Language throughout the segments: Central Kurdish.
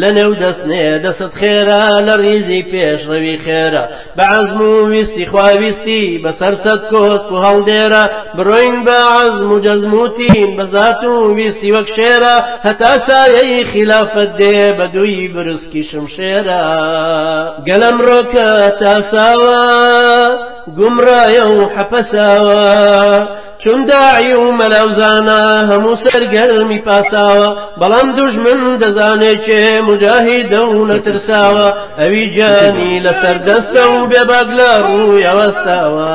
لەنێو دەست نێ دەست خێرا لە ڕیزی پێشڕەوی خێرا بە عەزم و ویستی خوا ویستی بەسەر سەد کۆسپ و هەڵدێرا بڕۆین بە عەزم و جەزم و تین بە زات و ویستی وەک شێرا هەتا سایەی خیلافەت دێ بە دووی برسکی شمشێرا گەل ئەمڕۆکە تاساوە گومڕایە و حەپەساوە چون داعی و مەلا و زانا هەموو سەرگەرمی پاساوە بەڵام دوژمن دەزانێ کێ موجاهیدە و نەترساوە ئەوی گیانی لەسەر دەستە و بێباک لە ڕوویە وەستاوە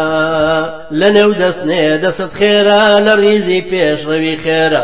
لەنێو دەستنێ دەست خێرا لە ڕیزی پێشڕەوی خێرا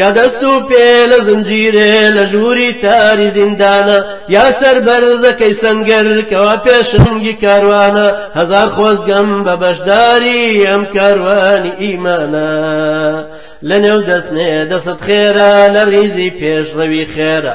یا دەست و پێ لە زنجیرێ لە ژووری تاری زیندانە یا سەر بەرزەکەی سنگەر کەوا پێشنگی کاروانە هەزار خۆزگەم بە بەشداری ئەم کاروانی ئیمانە لە نێو دەستنێ دەست خێرا لە ریزی پێشڕەوی خێرە